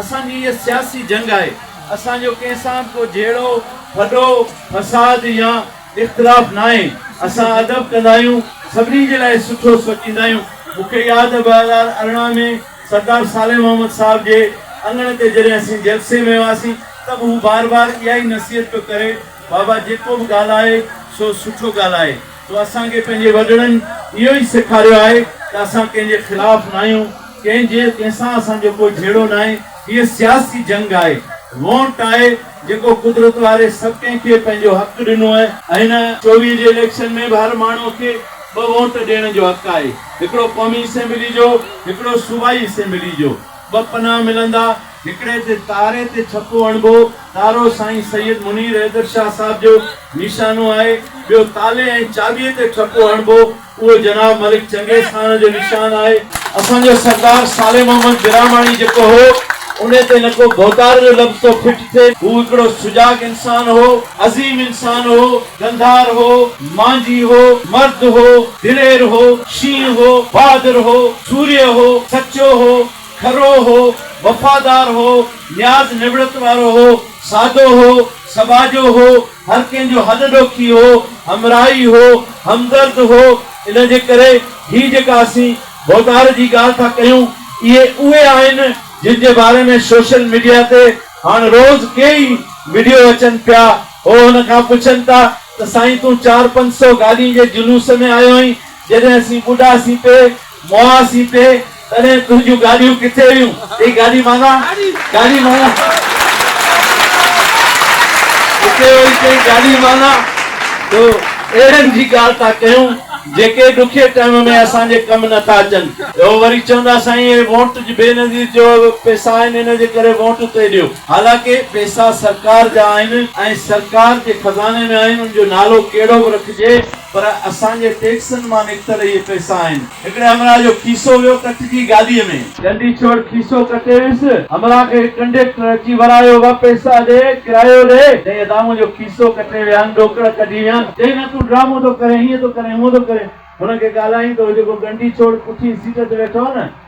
اسان جي هيء سياسي جنگ آهي، اسان جو ڪنهن سان به ڪو جهيڙو، ڦڏو، فساد يا اختلاف ناهي. اسان ادب ڪندا آهيون، سڀني جي لاء سٺو سوچيندا آهيون. مون کي ياد ٻه هزار ارڙهن ۾ سردار صالح محمد صاحب جي اڱڻ تي جڏهن اسين جلسي ۾ هئاسين ته به هو بار بار اها ئي نصيحت پيو ڪري، بابا جيڪو به ڳالهائي سو سٺو ڳالهائي. سو اسان کي پنهنجي وڏڙن اهو ئي سيکاريو آهي ته اسان ڪنهن جي خلاف ناهيون، ڪنهن جي ڪنهن سان اسان جو ڪو جهيڙو ناهي، هيء سياسي جنگ آهي، وونٽ آهي، جيڪو قدرت واري سڀ ڪنهن کي پنهنجو حق ڏنو آهي. هن چوويهه جي اليڪشن ۾ به هر ماڻهو کي ٻه وونٽ ڏيڻ جو حق آهي، هڪڙو قومي اسيمبلي جو، هڪڙو صوبائي اسيمبلي جو، ٻه پناهه ملندا، هڪڙي تي تاري تي ڇپو هڻبو. تارو سائين سيد منير حيدر شاهه صاحب جو نيشانو آهي. ٻيو تالي ۽ چاٻيء تي ڇپو هڻبو. اهو جناب ملڪ چنگيز خان جو نشان آهي. اسان جو سردار صالح محمد برهماڻي جيڪو هو، ان تي نه ڪو ڀوتار جو لفظ ٿو فٽ ٿئي. هو هڪڙو سجاڳ انسان هو، عظيم انسان هو، گنڌار هو، مانجهي هو، مرد هو، دلير هو، شينهن هو، بهادر هو، سورهيه هو، سچو هو، کرو هو، وفادار هو، نياز نوڙت وارو هو، سادو هو، سٻاجهو هو، هر ڪنهن جو هڏ ڏوکي هو، همراهي هو، همدرد هو، ان جي ڪري هي جيڪا اسين ڀوتار جي ڳالهه ٿا ڪيون، اهي اهي آهن جن جي باري ۾ سوشل ميڊيا تي هاڻ روز ڪي ئي وڊيو اچن پيا، هو هن کان پڇن ٿا ته سائين تون چار پنج سو گاڏين جي جلوس ۾ آيو هئين، جڏهن اسين ٻڏاسين پي، مئا سيتي تڏهن تنهنجون گاڏيون ڪٿي هيون هي گاڏي معنيٰ گاڏي معنيٰ هتي وئي چئي گاڏي معنيٰ جو اهڙن جي ڳالهه ٿا ڪيون جيڪي ڏکي ٽائيم ۾ اسان جي ڪم نه ٿا اچن. هو وري چوندا سائين هي وونٽ جي بي نظير جو پيسا آهن ان جي ڪري وونٽ اتي ڏيو. حالانڪه پيسا سرڪار جا آهن ۽ سرڪار جي خزاني ۾ آهن ان جو نالو ڪهڙو به رکجي پر اسان جي ٽيڪسن مان نڪتل اهي پئسا آهن. هڪڙي همراهه جو کيسو ويو ڪٽجي گاڏيء ۾. ڳنڍي ڇوڙ کيسو ڪٽي ويس. همراهه کي ڪنڊيڪٽر اچي ورايو، وه پئسا ڏي، ڪرايو ڏي. چئي ادا منهنجو کيسو ڪٽي ويان، ڏوڪڙ ڪڍي ويان. چئي نه تون ڊرامو ٿو ڪرين، هيئن ٿو ڪرين، هونء ٿو ڪرين. هن کي ڳالهائين ته هو جيڪو ڳنڍي ڇوڙ پٺين سيٽ تي ويٺو هو نه،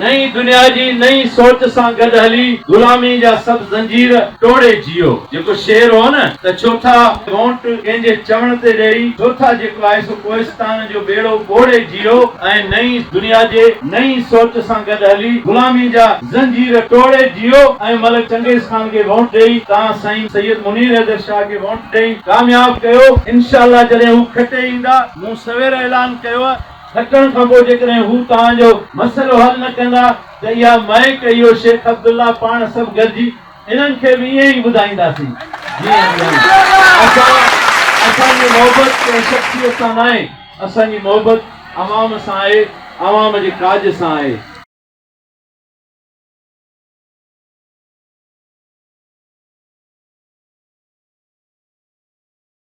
نئين دنيا جي نئين سوچ سان گڏ هلي غلامي جا سڀ زنجير ٽوڙي جيئو. جيڪو شعر هو نه ته ڇو ٿا وونٽ ڪنهن جي چوڻ تي ڏئي ڇو ٿا جيڪو آهي سو ڪوهستان جو ٻيڙو ٻوڙي جيئو ۽ نئين دنيا جي نئين سوچ سان گڏ هلي غلامي جا زنجير ٽوڙي جيئو ۽ ملڪ چنگيز خان کي وونٽ ڏئي تان سائين سيد منير حيدر شاهه کي وونٽ ڏئي ڪامياب ڪيو انشاء الله جڏهن هو کٽي ايندا مون سوير اعلان ڪيو ڪٽڻ کان پوء جيڪڏهن هو توهان جو مسئلو حل نه ڪندا ته اها مائڪ اهو شيخ عبدالله پاڻ سڀ گڏجي انهن کي به ائين ئي ٻڌائينداسين جيئن ٻڌايون اسان اسان جي محبت ڪنهن شخصيت سان ناهي اسان جي محبت عوام سان آهي عوام جي ڪاڄ سان آهي.